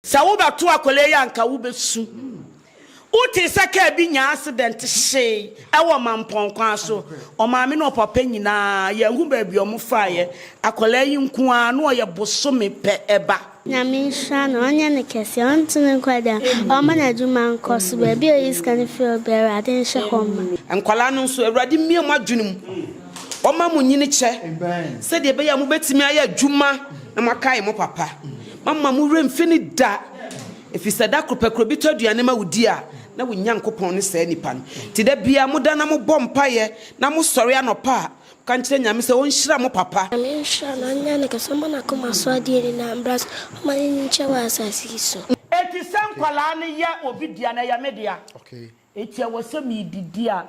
Sɛ wo bɛ to akwadaa yi a nka wo bɛ su. Wo tee sɛ kaa bi nyaa asedɛnte hyee ɛwɔ Mampɔn kwan so. Ɔmaame ne ɔpapa nyinaa yɛn hu baabi ɔmo faeɛ. Akwadaa yi nko ara na ɔyɛ bosome pɛ ɛba. Nyame nhyira no ɔnyɛ no kɛseɛ ɔnto no nkɔ da ɔmma no adwuma nkɔ so baabi a ɔyi sika no firi ɔbɛ awurade nhyɛ hɔ ma. Nkwadaa no nso awurade mmie mo adwene mu ɔmma mo nyini kyɛ sɛdeɛ ɛbɛyɛ a mobɛtumi ayɛ adwuma na moakae mo papa. Moamma mo werɛ mfi no da, ɛfiri sɛ da koro pɛ koraa obi tɔ aduane ma wo di a, na wo Nyankopɔn ne saa nipa no. Enti da biara moda na mobɔ mpaeɛ, na mosɔre anɔpa a, moka nkyerɛ Nyame sɛ ɔnhyira mo papa. Nyame nhyira no, ɔnyɛ ne kɛse, ɔmma n'akoma so adeɛ nyinaa mmra so, ɔmma n'ani nkyɛ wɔ asase yi so. Enti sɛ nkwadaa no yɛ obi dea no, ɛyɛ me dea. Enti ɛwɔ sɛ meredidi a,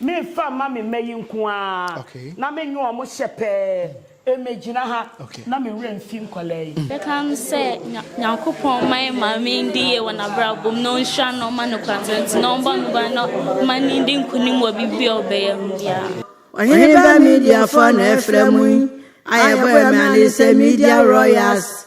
memfa mma me mma yi nko ara na menwe wɔn hyɛ pɛɛ, mmegyina ha na me werɛ mfi nkwadaa yi. Yɛka no sɛ Nyankopɔn mma yɛn maame ndi yie wɔ n'abrabɔ mu na ɔnhyira no na ɔma no kwantenti na ɔmbɔ no ban na ɔma no ndi nkunim wɔ biribi a ɔbɛyɛ ho biara. Ɔheneba Mediafoɔ na ɛfrɛ mo yi a yɛbɔ yɛn mmrane sɛ Media Royals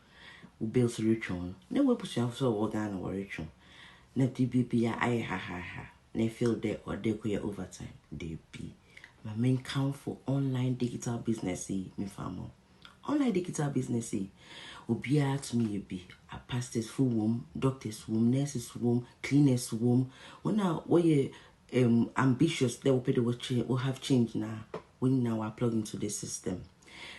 Wo bill so retwe wo no, na w'abusuafo so a wɔwɔ Ghana wɔretwe wo, na biribi biara ayɛ hahaaha, na e feel dɛ ɔwɔ dɛ ekɔyɛ overtime. Dabi. Ma menkamfo online digital business yi mefa ama wo. Online digital business yi, obiara tumi yɛ bi. Apastasfo wom, doctors wom, nurses wom, cleaners wom, wɔn a wɔyɛ um, ambitious dɛ wopɛ dɛ wo change wo have change na wɔn nyinaa wɔ plug into the system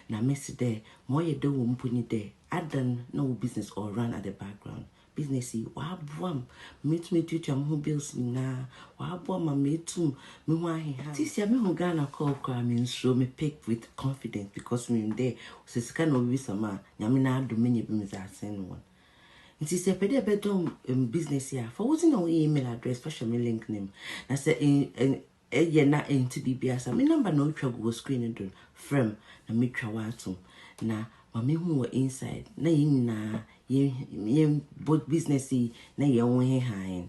na mɛsi dɛ ma ɔyɛ dɛ wɔ mpo ni dɛ adan na wo business or run at the background business yi wɔaboa m metum etuatua me ho bills nyinaa wɔaboa ma metum me ho aheha sisi a me ho Ghana call koraa me nsuro me pick with confidence because me nim dɛ sɛ sika na obi bisa ma nyame na adom menya bi medze asen no wɔn Nti sɛ ɛpɛ dɛ ɛbɛdɔ um business yi a, fa wodzi na wo email address fa hyɛ me link no mu. Na sɛ ɛyɛ na ɛnte biribi ase a, me number na otwa gu wɔ screen no do no, frɛ me na metwa wo atom. Na ma mehu wɔ inside na yɛn nyinaa yɛn yɛn bɔ business yi na yɛn ho nheha hɛn.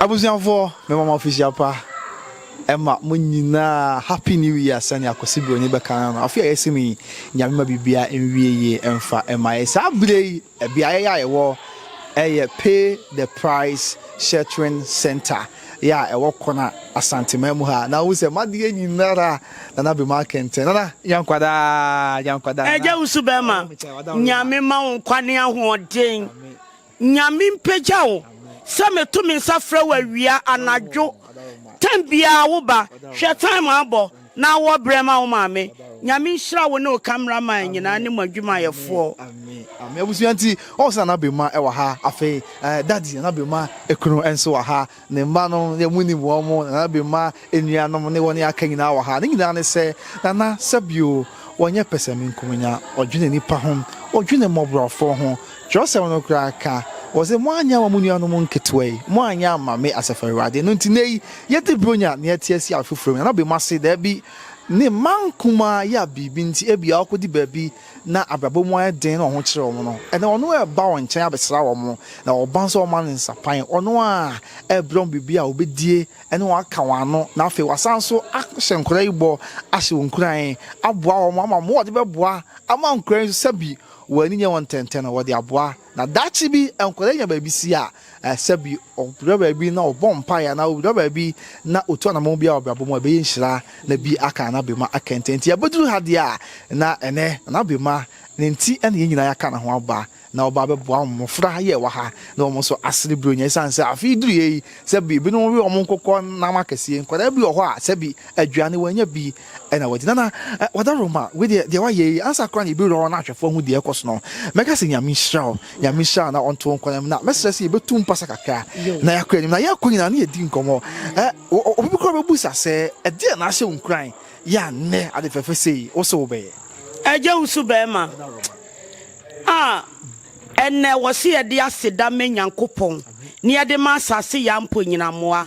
Abusuafoɔ mema mo afehyia pa ɛma mo nyinaa happy new year sɛnea Kwasi Broni bɛka no no afe a yɛsi mu yi nyame ma bibia nwie yie ɛmfa ɛma yɛ saa bere yi ɛbeaeɛ yɛ a yɛwɔ ɛyɛ pay the price sheltering center Yɛ a ɛwɔ Kona, Asanteman mu ha. Na wohu sɛ m'adeɛ nyinara Nana Bema akɛntɛn. Nana, nya nkwa daa, nya nkwa daa. Agya wo so bɛma. Nyame ma wo nkwa ne ahoɔden. Nyame mpagya wo. Sɛ meto me nsa frɛ wo awia, anadwo, time biara wo ba. Hwɛ time abɔ. Na wɔ brɛ ma wo maame. Nyame nhyira wo ne wo camera man nyinaa ne mo adwumayɛfoɔ. Amen amen abusua nti ɔwɔ sɛ nana bema ɛwɔ ha afei ɛɛ daddy nana bema ɛkunu ɛnso wɔ ha ne mma no yɛ mo nim wɔn mo nana bema ɛnua nom ne wɔn aka nyinaa wɔ ha ne nyinaa ne sɛ nana sɛbio wɔnyɛ pɛsɛmenkominya ɔdwene nipa ho ɔdwene mɔborɔfoɔ ho Kyerɛwsɛm no koraa ka, ɔse, Moanyɛ amma mo nuanom nketewa yi, moanyɛ amma me, Asafo Awurade. Ɛno nti, nnɛyi yɛde Buronya nea ɛteɛ si afoforo mu, na na obemu ase, dabi, ne mma nkumaa yi a biribi nti ebia wɔakodi baabi na abrabɔ mu ayɛ den na wɔn ho kyere wɔn no, ɛnnɛ ɔno ara reba wɔn nkyɛn abɛsra wɔn, na wɔba nso a wɔma no nsapan, ɔno ara rebrɛ wɔn biribi a obedie ne wɔn aka wɔn ano, na afei wasan nso ahyɛ nkwadaa yi bɔ, ahyɛ wɔn nkuran, aboa wɔn ama wɔde bɛboa ama nkwadaa yi nso sɛbi Wɔn ani nyɛ wɔn ntɛntɛ na wɔde aboa. Na daakye bi nkwadaa nya baabi si a, sɛbi wɔdura baabi na wɔbɔ mpaeɛ anaa wɔdura baabi na wɔtu anammɔn bi a wɔ abrabɔ mu a ɛbɛyɛ nhyira na bi aka na abɛma akɛntɛn. Nti abɛduru ha deɛ a, na ɛnnɛ na abɛma ne nti na yɛn nyinaa yɛaka ne ho aba na ɔba abɛboa mmɔfra yɛ ɛwɔ ha na wɔn nso asene Buronya ɛsiane sɛ afe yi duruiɛ yi sɛbi binom we wɔn nkokɔ nam akɛseɛ. Nkwadaa bi wɔ hɔ a sɛbi aduane wɔanya bi. na wɔadi. Nana, Wadaroma, wei deɛ, deɛ woayɛ yi, ansa koraa na yɛbɛwura hɔ na ahwɛfoɔ ahu deɛ ɛrekɔ so no, mɛka sɛ Nyame nhyira wo, Nyame nhyira wo na ɔnto wo nkɔanim, na mɛsrɛ sɛ yɛbɛtu mpasa kakra na yɛakɔ anim, na yɛrekɔ nyinaa na yɛadi nkɔmmɔ. Obi bi koraa bɛbisa sɛ, Ɛdeɛn na ahyɛ wo nkuran yɛ a nnɛ ade fɛfɛ sei wo se wobɛyɛ? Agya wo so barima a ɛnnɛ wɔse yɛde aseda ma Nyankopɔn na yɛde ma asase yɛ ampo nyinammoa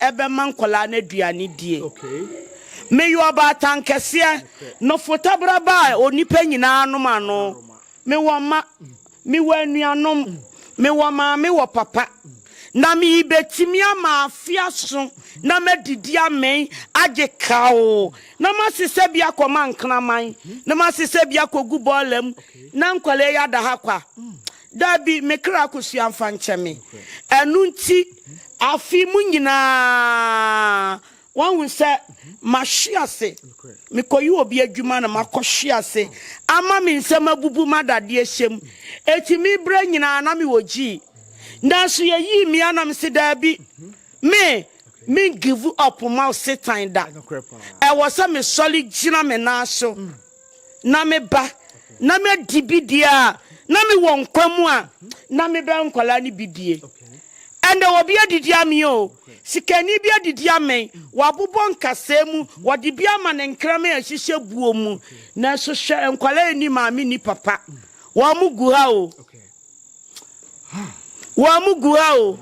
ɛbɛma nkwadaa no aduane die. Meyɛ ɔbaatan kɛseɛ, nofotabra ba a onipa nyinaa nom ano. Mewɔ mma, mewɔ anuanom, mewɔ maame wɔ papa. Na merebɛtumi ama afe aso na madidi amee, agye kawo, na masesa bi akɔ mankraman, na masesa bi akɔgu bɔɔla mu, na nkwadaa yi ada ha kwa. Dabi, me kra kosua mfa nkyɛ me. Ɛno nti, afe mu nyinaa, woahu sɛ mahwe ase. Mekɔyɛ obi adwuma na makɔhwe ase ama me nsam abubu ma dadeɛ hyɛ mu. Enti me berɛ nyinaa na mewɔ gyii. Nanso yɛyii me a na mese dabi, me, mengivu ɔpo ma Satan da. Ɛwɔ sɛ mesɔre gyina me nan so. na meba na madi bi die a, na mewɔ nkwa mu a, na mebɛ nkwadaa no bi die. Ɛnna obi adidi amee o, sikani bi adidi amee, wabobɔ nkasɛɛ mu, wɔde bi ama ne nkraman a ɛhyehyɛ buo mu. Nanso hwɛ nkwadaa nni maame nni papa, wɔn gu ha o. Wɔamugu ha o.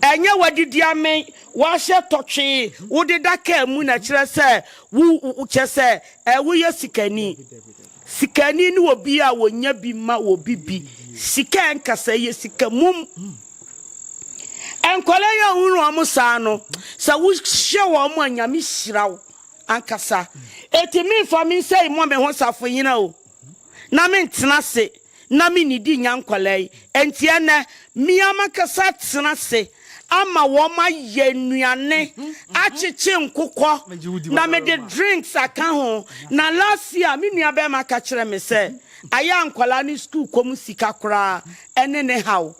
Ɛnyɛ wɔadidi amen, wɔahyɛ tɔtwee, wodeda kaa mu na kyerɛ sɛ wo kyɛ sɛ ɛ woyɛ sikani. Sikani ne obi a wɔnya bi ma obi bi. Sika ɛnkasa, ɛyɛ sika mum. Nkwadaa yi a wohunu wɔn saa no, sɛ wohyɛ wɔn a Nyame hyira wo ankasa. Enti memfa me nsa yi mmɔ me ho safohene o. na mentena ase na minnidi nnya nkwadaa yi. Enti ɛnnɛ, me ara m'ankasa atena ase ama wɔayɛ nnuane, akyekye nkokɔ, na mede drinks aka ho. Na last year, me nuabarima ka kyerɛɛ me sɛ, ayɛ a nkwadaa no sukuukɔ mu sika koraa ne ne haw.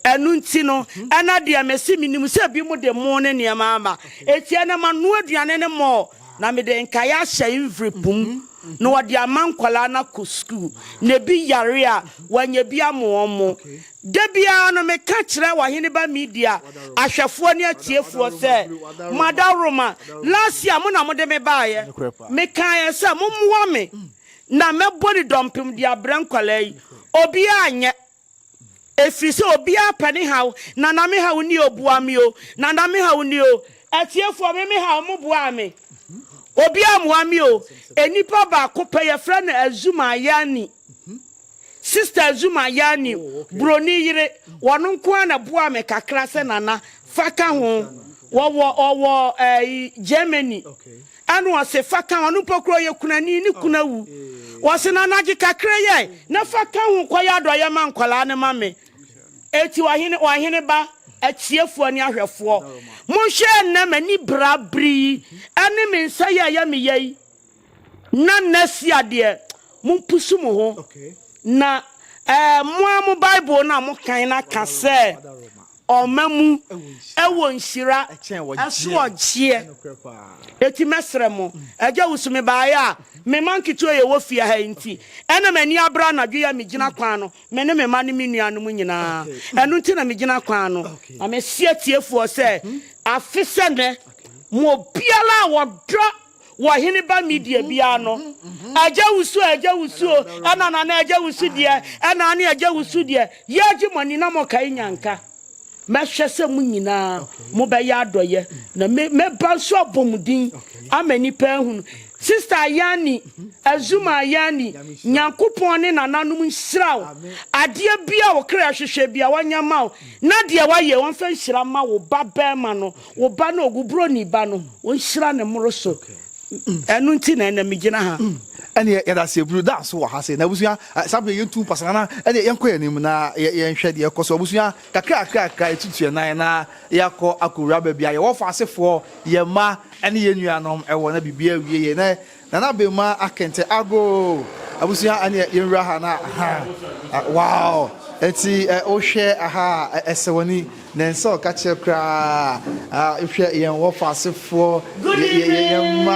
Ɛno nti no, ɛna deɛ mese, Menim sɛ ebinom de mo ne nneɛma aba. Enti ɛnnɛ, manoa aduane no more. Na mede nkae ahyɛ Nvrip mu na wɔde ama nkwadaa no akɔ sukuu. Na ebi yare a, wɔanya bi ama wɔn. Da biara no, meka kyerɛ Ɔheneba Media ahwɛfoɔ ne atiefoɔ sɛ, Mo adaworoma, last year mo na mode me baeɛ. Mekaeɛ sɛ, Mommoa me na mɛbɔ ne dɔmpem de abrɛ nkwadaa yi. Obiara anyɛ. Ɛfiri sɛ obiara pɛ ne haw. Nana me haw ni o boa me o. Nana me haw ni o. Atiefoɔ me me haw mo boaa me. Obiara mmoa me o. Nnipa baako pɛ yɛfrɛ no Azuma Ayani. Sister Azuma Ayani buroni yere wɔno nko ara na boaa me kakra sɛ Nana fa ka ho. Wɔwɔ wɔwɔ ɛɛ Germany. Ɛno ɔse fa ka ho, ɔno mpo koraa ɔyɛ kunani, ne kunu awu. Ɔse na nagye kakra yi ai, na fa ka ho kɔyɛ adɔeɛ ma nkwadaa no ma me. Enti ɔhene, wɔn hene ba, atiefoɔ ne ahwɛfoɔ, monhwɛ ɛnnɛ m'ani bra bere yi, ɛne me nsa yi a ɛyɛ me ya yi, na next year deɛ, mompusu mo ho, na ɛɛ mo ara mo Bible no a mokan no aka sɛ. Ɔma mu wɔ nhyira ɛso ɔgyeɛ. Eti mɛsrɛ mo, Agya wusu me baeɛ a, me mma nketewa yi a ɛwɔ fie ha yi nti. Ɛna m'ani abere anadwo yi a megyina kwan ano, me ne me mma ne me nuanom nyinaa. Ɛno nti na megyina kwan ano. Na mese atiefoɔ sɛ, afe sɛ nnɛ, mo obiara a ɔdɔ. Wɔ hene ba Media biara no, agya wusu a agya wusu o, ɛna na na agya wusu deɛ, ɛna ane agya wusu deɛ, yɛregye mo ani na mo kae nyanka. Mɛhwɛ sɛ mo nyinaa mo bɛyɛ adɔyɛ, na me mɛba nso abɔ mo din ama nnipa ahunu. Sister Ayani, Azuma Ayani, Nyankopɔn ne nananom nhyira wo. Adeɛ biara a wo kra hwehwɛ biara, ɔnyɛ ma wo, na deɛ wayɛ, ɔmfa nhyira ma wo ba barima no. wo ba no wo buroni ba no wonhyira ne mmoro so ɛno nti na ɛna megyina ha ɛne yɛda ase aburu da so wɔ ha se na abusua saa bere yɛntu mpasana na ɛne yɛnkɔ yɛn anim na yɛnhwɛ deɛ ɛkɔ so abusua kakra kakra kakra yɛtutu yɛn nan na yɛakɔ akɔwura baabi a yɛwɔ faasefoɔ yɛn mma ɛne yɛn nuanom ɛwɔ na biribi awie yɛ na Nana Abenmaa Akente Agoo abusua ɛneɛ yɛn wura ha na ahaa wow ɛnti wo hwɛ aha a ɛsɛ wani na ɛnsɛ ɔka kyerɛ koraa hwɛ yɛn wɔ fa ase foɔ yɛn mma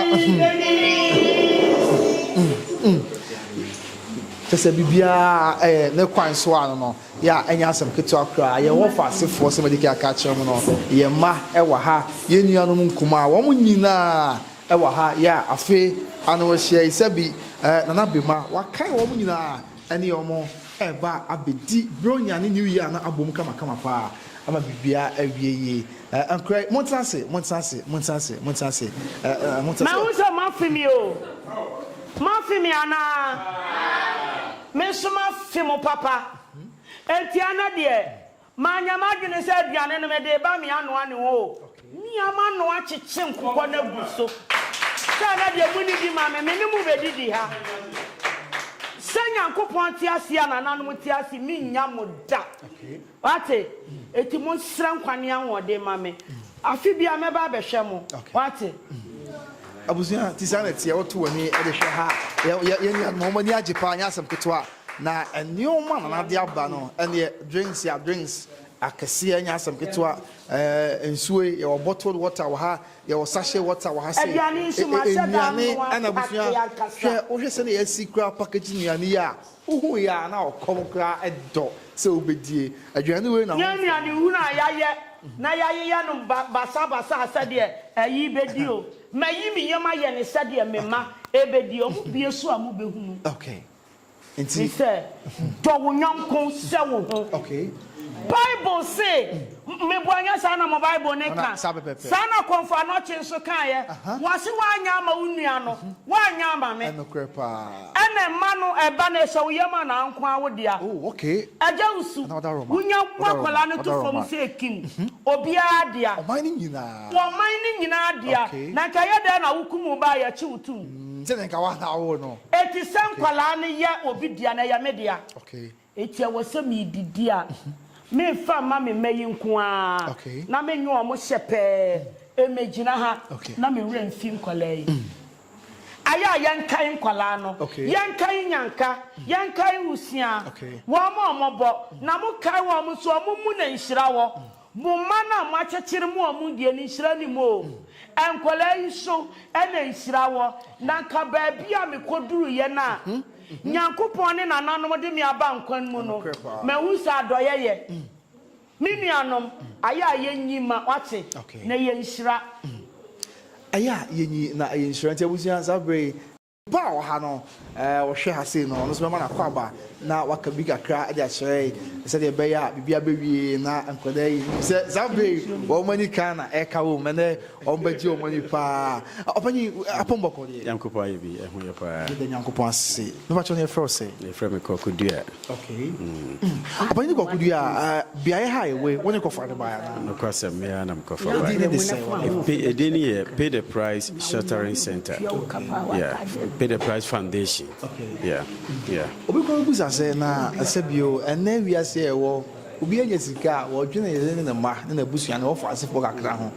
kyɛsɛ bibiaa ɛyɛ ne kwan so a no no yɛ a ɛnyɛ asɛm ketewa koraa yɛn wɔ fa ase foɔ sɛ mɛdikɛ aka kyerɛ mu no yɛn mma ɛwɔ ha yɛn nuanom nkumaa wɔn nyinaa Ɛwɔ ha yɛ a afe ano ahyia yi sɛbi eh, Nana Bema wakae wɔn nyinaa ɛne wɔn ɛreba abɛdi Buronya ne New Year no abom kamakama paa ama biribiara awie yie eh, Ankorɛ yi montena ase, montena ase, montena ase, montena ase eh, eh, montena ase. Mahu sɛ moafe me o, moafe me anaa? Me nso mafe mo papa, enti ɛnɛ deɛ Manya m'adwene sɛ aduane no mede reba me anoa ne ho o. Mia m'anoa kyekye nkokɔ no agu so. Sɛ na deɛ monni bi ma me, me ne mo bɛdidi ha. Sɛ Nyankopɔn te ase a nananom te ase, mennya mo da. Wate? Enti monsrɛ nkwa ne ahoɔden ma me. Afe biara mɛba abɛhwɛ mo, wate. Abusua, nti saa na ɛteɛ, woto w'ani de hwɛ ha a, yɛ, yɛn nuanom a, wɔn ani agye paa, ɛnyɛ asɛm ketewa, na nneɛma a Nana de aba no, ɛnneɛ, drinks a, drinks akɛseɛ, ɛnyɛ asɛm ketewa, ɛɛ, nsuo yi, yɛwɔ bottled water wɔ ha, yɛwɔ sachet water wɔ ha sei, Aduane nso, ɛ, ɛ, mahyɛ da nnuane, mmoa ɛna abusua, nkate ankasa. hwɛ, wohwɛ sɛdeɛ yɛasi koraa package nnuane yi a, Wohuu yɛ a na ɔkɔm koraa dɔ sɛ wobedie aduane wei na ho mfɔ. Yɛn nua ne hunu a yayɛ na yayeyɛ no basa basa sɛdeɛ ɛyi bedi o. Mayi me yam ayɛ no sɛdeɛ me mma ɛbedi ɔmo bie so a mobehunu. Okay. Nti. Mesɛ, dɔ wo yɔnko sɛ wo ho. Okay. Bible se, Meboa nyɛ saa na mo Bible no ka. Saa na Kɔmfo Anokye nso kaeɛ. Wɔse woanyɛ ama wo nua no, woanyɛ ama me. Ɛna mma no, ɛba no, ɛhyɛ wo yam a na anko ara wo dea. Agya Usu, wonya wo akwadaa no to fam sɛ kim, obiara dea. Ɔman no nyinaa dea. Na nka ɛyɛ dɛn na wokum wo ba a yɛkye wo tom. Enti sɛ nkwadaa no yɛ obi dea no, ɛyɛ me dea. Enti ɛwɔ sɛ meredidi a, memfa mma me mma yi nko ara na menwe wɔn hyɛ pɛɛ. Mmegyina ha na me werɛ mfi nkwadaa yi. Ayɛ a yɛnkae nkwadaa no, yɛnkae Nyanka, yɛnkae Wusia, wɔn a wɔbɔ, na mokae wɔn nso a, mommu no nhyira wɔ. Mo mma no a moakyekyere mo a wɔn deɛ no nhyira nnim oo. Nkwadaa yi so na nhyira wɔ. Na anka baabi a mekɔduruiɛ no a Nyankopɔn ne nananom de me aba nkwa mu no, mahu sɛ adɔeɛ yɛ. Me nuanom, ayɛ a yɛnyi mma, woate, na ɛyɛ nhyira. Ayɛ a yɛnyi na ɛyɛ nhyira. Nti abusua, saa berɛ yi. Papa a ɔha no ɔhwɛ ha sei no ɔno nso bɛma no akɔ aba na waka bi kakra de akyerɛ yɛn sɛdeɛ ɛbɛyɛ a biribi abɛwie na nkwadaa yi nim sɛ saa berɛ yi wɔn ani kan na ɛka wɔn ɛnɛ wɔn bɛgye wɔn ani paa ɔpanyin apɔmbɔkɔ deɛ Nyankopɔn ayɛ bi ɛho yɛ paa. Yɛda Nyankopɔn ase. Mepakyɛ ne yɛfrɛ wo sɛ? Yɛfrɛ me Kɔkudua. Okay. Mm. Ọpanyin kɔkɔ du a beaeɛ ha ewe wɔn ne kɔfa de baa yana. Nokwa sɛ mmea nam kɔfa baa. Edin ne de sɛn wɔn. Edin ne yɛ Pay the Price Sheltering Center. Yeah. Pay the Price Foundation. Okay. Yeah. Yeah. Obi kɔ ebusa sɛ na ɛsɛ bio ɛnɛ wiase a ɛwɔ obi anya sika a wɔdwene yɛn ne ne mma ne n'abusua ne wɔfa asefo kakra ho.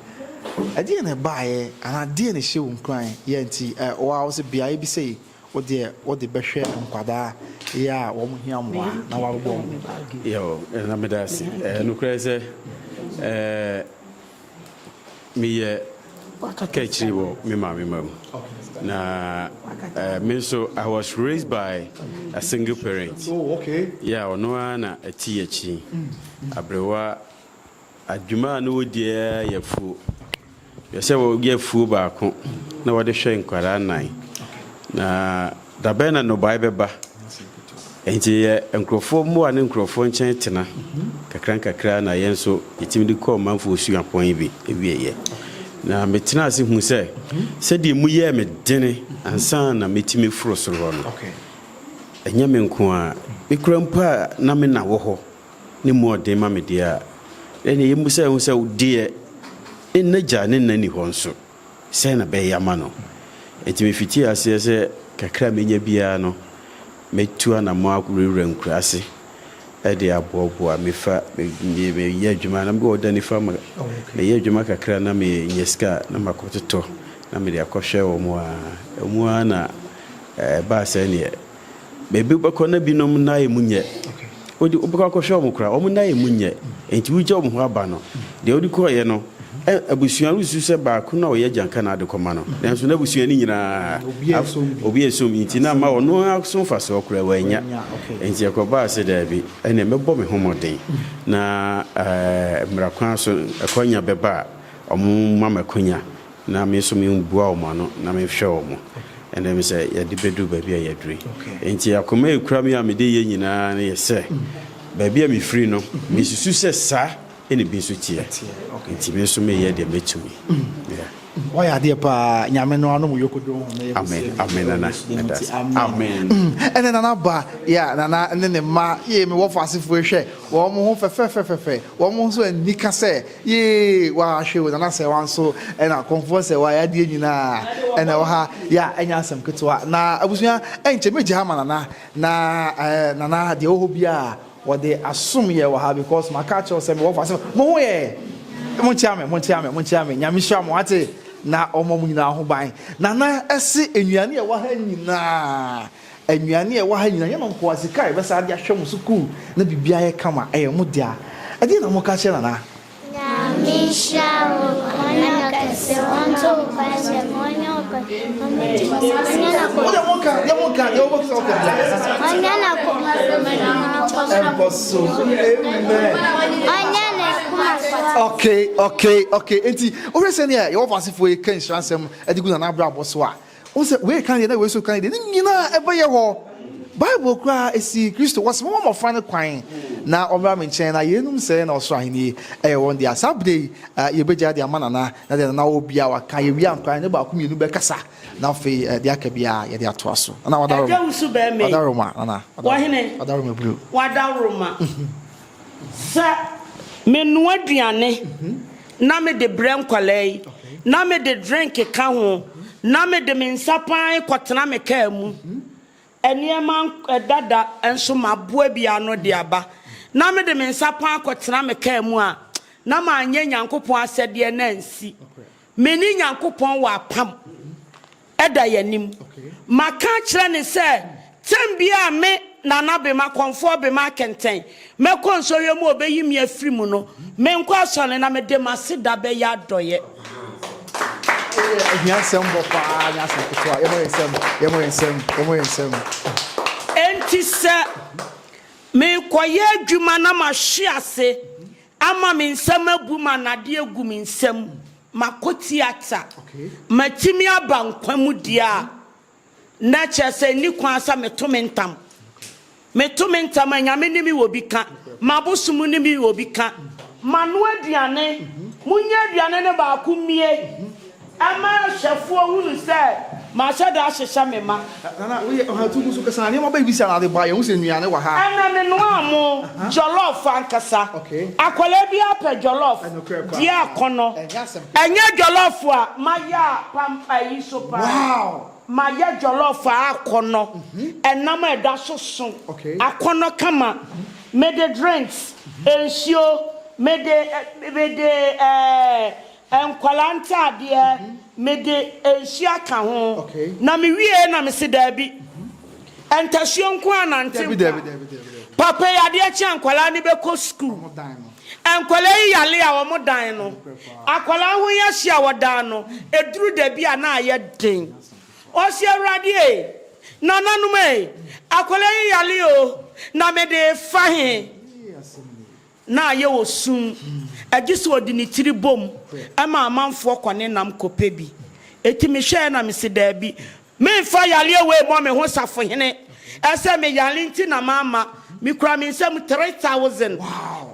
Ɛdeɛ na ɛbaeɛ anaa deɛ na ɛhyɛ wo nkuran yɛ nti ɛwɔ a wɔsɛ beaeɛ bi sɛ Wo deɛ wo de bɛhwɛ nkwadaa yɛ a wɔn hia mmoa na wabobɔ wɔn. Yaw na meda ase. Ɛɛ nokorɛ sɛ ɛɛ meyɛ kaakyire wɔ me maame mma mu. Na ɛɛ me nso I was raised by a single parent. Yaw ɔno ara na ɛte yɛn akyi. Abrewa. Adwuma a na wɔdi ara yɛ afuo. Hwɛ sɛ wɔyɛ afuo baako na wɔde hwɛ nkwadaa nnan. Na da bɛn na nnɔbaeɛ bɛba? Enti yɛ nkurɔfoɔ mmoa ne nkurɔfoɔ nkyɛn tena kakra nkakra na yɛn nso yɛtumi de kɔɔ manfoɔ suapɔn yi bi wieɛ. Na metena ase hu sɛ sɛdeɛ mu yɛɛ me dene ansa na mɛtumi foro soro hɔ no, ɛnyɛ me nko ara. Me kura mpo a na me na wɔ hɔ Ne mu ɔden ma me deɛ a. Ɛnneɛ yɛmmisa yɛn ho sɛ, Deɛ ne n'agya ne nna nni hɔ nso, sɛn na ɛbɛyɛ ama no? Enti mefitii aseɛ sɛ kakra a mɛnya biara no, mɛtu anammɔn awurawura nkuraase de aboaboa. Mefa, me, meyɛ adwuma, na mewɔ da nifa ma, meyɛ adwuma kakra na menya sika a, na makɔtotɔ na mede akɔhwɛ wɔn a. Emu ara na ɛbaa sɛdeɛ. Baabi wobɛkɔ na binom nan emu nyɛ. Wode wobɛkɔ akɔhwɛ wɔn koraa, wɔn nan emu nyɛ. Enti wogya wɔn hɔ aba no. Deɛ wode kɔeɛ no, ɛ abusua no susu sɛ baako na ɔyɛ gyanka na ade kɔma no. Nanso n'abusua no nyinaa, af obi a ɛsom bi nti na ama ɔno ara so mfasoɔ koraa wannya. Enti ɛkɔbaa sɛ daabi, ɛnneɛ mɛbɔ me ho mmɔden na ɛɛ mmara kwan so akwannya bɛba a, wɔma me akwannya. Na me nso mebua wɔn ano na mehwɛ wɔn. Ɛnna me sɛ, Yɛde bɛduru baabi a yɛaduru yi. Enti akoma a ɛkura me a mede reyɛ nyinaa no yɛ sɛ, baabi a mefiri no, mesusu sɛ saa na ebi nso teɛ. Enti me nso mereyɛ deɛ mɛtumi. Woayɛ adeɛ paa. Nyame no anom yoko doo ho na yɛ kɛsɛ yɛ. Amen, amen Nana. Meda ase. Amen. Ɛnɛ Nana ba, yeah, Nana ne ne mma, yee me wɔfo asefoɔ yi hwɛ, wɔn ho fɛfɛfɛfɛfɛ, wɔn nso anni ka sɛ Yee waa hwɛ o nana sɛ wa nso ɛna kɔnfoɔ sɛ wa yadeɛ nyinaa ɛna ɛwɔ ha ya ɛnyɛ asɛm ketewa na abusua ɛnkyɛ mɛgye ha ma nana na ɛɛ nana deɛ wɔ hɔ biara wɔde asom yɛ wɔ ha because ma kaa kyerɛw sɛ mewɔ fa sɛ mo ho yɛ mo nkyia me mo nkyia me mo nkyia me nyame hyira mo ate na ɔma mo nyinaa ho ban nana ɛse nnuane ɛwɔ ha nyinaa. Nnuane a ɛwɔ ha nyinaa, yɛn nkoa, sika a yɛbɛsan de ahwɛ mo sukuu na biribiara ayɛ kama, ɛyɛ mo dea. Ɛdeɛn na moka kyerɛ Nana? Nyame nhyira wo ɔne no kɛse ɔnto wo kwan sɛ ma ɔnyɛ wo kwan na mo di mo sa ɔnyɛ na kɔ Wode mo ka, deɛ mo ka, deɛ wobɛka wo ka biara. ɔnyɛ na kɔ Ɛnkɔ so, amen. ɔnyɛ ne koma kɔ so. Okay, okay, okay. Enti, wohwɛ sɛdeɛ Yehowa asefoɔ yi ka nhyira nsɛm de gu Nana abrabɔ so a, Wohu sɛ wei ka deɛ na wei nso ka ne deɛ, ne nyinaa ɛbɛyɛ hɔ. Bible koraa ɛsii Kristo, wɔse momma mmɔfra no kwan na wɔmmra me nkyɛn na yeinom sɛɛ na ɔsoro ahennie ɛyɛ wɔn dea. Saa berɛ yi yɛbɛgyae de ama Nana na deɛ Nana wɔ biara waka, yɛwie ankorɛ a yɛne baako mmienu bɛkasa na afei deɛ aka biara yɛde atoa so. Nana Wadaroma, Wadaroma Nana, Wadaroma, Wadaroma Blue. Sɛ menoa aduane na mede brɛ nkwadaa yi, na mede drink ka ho, na mede me nsa pan kɔtena me kaa mu, nneɛma dada nso maboa bi ano de aba, na mede me nsa pan kɔtena me kaa mu a, na manyɛ Nyankopɔn asɛdeɛ na ansi. Me ne Nyankopɔn wɔ apam. Ɛda yɛn anim. Maka akyerɛ no sɛ tɛm biara a me, Nana Bema, Kɔmfoɔ Bema Akɛntɛn, mɛkɔ nsɔhwɛ mu a ɔbɛyi me afiri mu no, menkɔ asɔre na mede m'aseda bɛyɛ adɔeɛ. Wei yɛ ahiasɛmbɔ paa nyɛ asɛm ketewa. Yɛmmɔ yɛn nsam, yɛmmɔ yɛn nsam, yɛmmɔ yɛn nsam. Enti sɛ merekɔyɛ adwuma na mahwe ase Ama me nsam abu ma nnadeɛ agu me nsam makɔ tiata matumi aba nkwa mu deɛ a na kyerɛ sɛ nni kwan sɛ meto me ntam meto me ntam a nyame ne me wɔ bi ka mabosom ne me wɔ bi ka manoa aduane monyɛ aduane no baako mmie. Ɛma hwɛfoɔ hunu sɛ mahyɛ da ahyehyɛ me mma. Nana, wo yɛ ɔhatu gu so kɛse na nneɛma bɛn siaa na ade baa? Yɛn hu sɛ nnuane wɔ ha. Ɛna me noaa mo jollof ankasa. Akwadaa biara pɛ jollof. Di akɔnɔ. Ɛnyɛ jollof a mayɛ a pam ayi so paa. Mayɛ jollof a akɔnɔ, ɛnam a ɛda so so akɔnɔ kama. Mede drinks, nsuo, mede, mede eh, Nkwadaa ntaadeɛ, mede nhyia ka ho. Na me wieɛ na me se daabi, ntasuo nko ara na nte nka. Papa yi adeɛ kye a nkwadaa no bɛkɔ sukuu. Nkwadaa yi yale a wɔn dan no, akwadaa ho yɛ hye a wɔdan no, ɛduru dabi a na ayɛ den. Ɔse Awurade ei, nananom ei, akwadaa yi yale o, na mede refa he? na ayɛ wɔ sum, gye sɛ ɔde ne tiri bom ma amanfoɔ kɔ ne nam kɔpɛ bi. Enti mehwɛeɛ na mese, Daabi, meremfa yareɛ wei mmɔ me ho safohene, ɛsɛ me yare nti na mamma. Mekura me nsam 3,000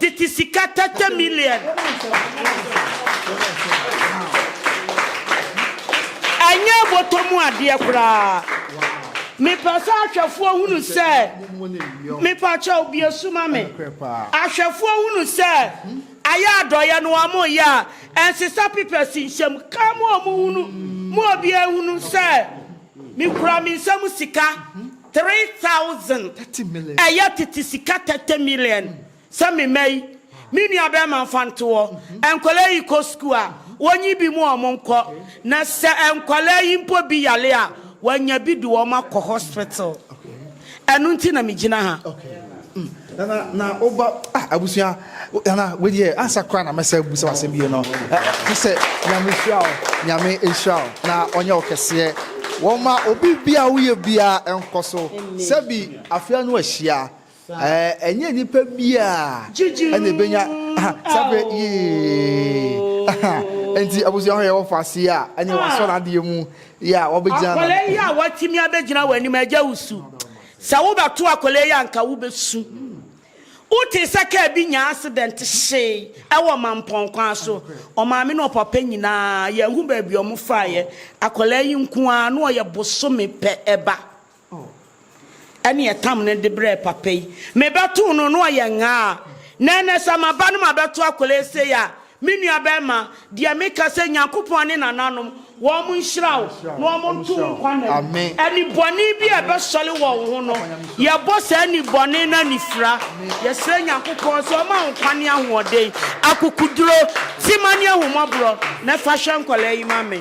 tete sika, tɛtɛ million. Ɛnyɛ bɔtɔ mu adeɛ koraa. Mepɛ sɛ ahwɛfoɔ hunu sɛ. Mepakyɛw bue so ma me. Ahwɛfoɔ hunu sɛ ayɛ adɔeɛ no wɔyɛ a ɛnsesa pepɛs nhyɛm ka mo a wɔhunu mo obiara hunu sɛ mekura me nsa mu sika 3000 ɛyɛ tete sika 30 million Sɛ me mma yi, me nua bɛɛma nfa nto hɔ, nkwadaa yi kɔ sukuu a, wɔnyi bi mu wɔn nkɔ, na sɛ nkwadaa yi mpo bi yare a, wɔanya bi de wɔn akɔ hospital. Ɛno nti na me gyina ha. Okay. Mm. Nana, na woba, ah, abusua, nana, wedeɛ, ansa koraa na mɛsɛ abu sɛ wasɛm bie no, te sɛ nyame hyira wo, nyame nhyira wo, na ɔnyɛ wo kɛseɛ, wɔma obi bia woyɛ biaa ɛnkɔ so, sɛbi afea no ahyia, Ɛnyɛ nnipa biara na ebenya saa bere yi. Enti abusua hɔ yɛ wɔn faase a ɛne wɔn asɔ n'adeɛ mu yɛ a wɔbɛgyina. Akwadaa yi a watumi abɛgyina wɔn anim, agya wusu. Sɛ wobɛto akwadaa yi a anka wobɛsu. Wotee sɛ kaa bi nyaa accident hyee wɔ Mampɔn kwan so. Ɔmaame ne ɔpapa nyinaa yɛnhu baabi wɔn faeɛ. Akwadaa yi nko ara na ɔyɛ bosome pɛ ba. Oh, ɛneɛ tam no de brɛɛ papa yi, me bɛtoo no na ɔyɛ ngaa, na ɛnɛ sɛ ma ba no ma bɛto akwadaa yi sei a, me nua bɛɛma, deɛ me ka sɛ Nyankopɔn ne nananom, wɔn nhyira wo, na wɔn nto wo nkwa nna mu. Ɛni bɔne bi a ɛbɛsɔre wɔ wo ho no, yɛ bɔ saa ɛni bɔne no anifira, yɛ srɛ Nyankopɔn sɛ ɔma wo nkwa ne ahoɔden, akokuduro, tema ne ahummɔborɔ, na fa hwɛ nkwadaa yi ma me.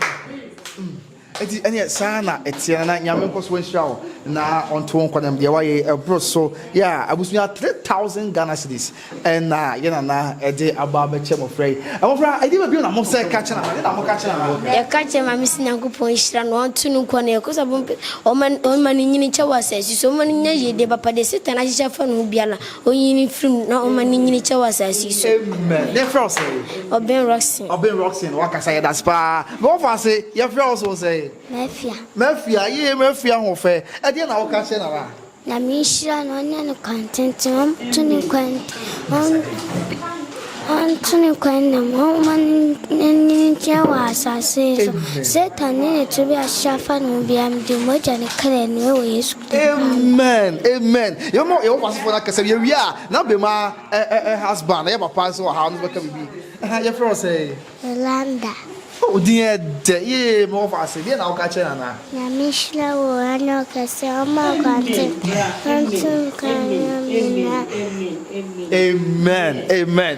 Enti ɛneɛ saa ara na ɛteɛ Nana Nyame nkɔ so nhyira wo na ɔnto wo nkɔnam deɛ wayɛ yi ɛboro so yeah abusua three thousand Ghana cedis ɛna yɛ Nana ɛde aba abɛkyɛ mmɔfra yi Mmɔfra ɛdeɛ bɛ bio na mo sɛ ka kyɛ Nana ɛdeɛ na mo ka kyɛ Nana. Yɛka kyerɛ Maame sɛ Nyankopɔn nhyira no, ɔnto no nkwa na yɛkɔ so abɔ mpae sɛ ɔmma no nyini nkyɛ wɔ asase so, ɔmma no nya yiedie papa, deɛ Satan ahyehyɛ afa ne ho biara no, Ɔnyi ne firi mu na ɔma ne nyini kyɛ wɔ asase yi so. Amen. Yɛ frɛ wo sɛe? Ɔben Roxin. Ɔben Roxin, wakasa yɛ das paa. Mɛ wɔfa ase, yɛ frɛ wo so sɛe? Mafia. Mafia, yee mafia ho fɛ. Ɛdeɛ na woka kyɛ nana? Nyame nhyira no, ɔnyɛ no kwan tenten, ɔnto ne kwan, ɔnto ne kwan nam, ɔma ne nyini kyɛ wɔ asase yi so. Satan ne ne tebea ahyehyɛ afa ne ho biara, mede mogya ne kra nua wɔ Yesu. Amen amen yɛbɛma yɛwɔ pasifo no akasa wie wie a na bema ɛ ɛ ɛ husband ɛyɛ papa nso wɔ ha ɔno bɛka bibi ɛha yɛfrɛ wɔ sɛ. Yolanda. o din yɛ dɛ yee mɛwɔ fa ase deɛ na woka kyerɛ nana. Nyame hyira wo ɛna ɔkɛse ɔma akwante ɔnto nka nyɛ nyinaa. Amen amen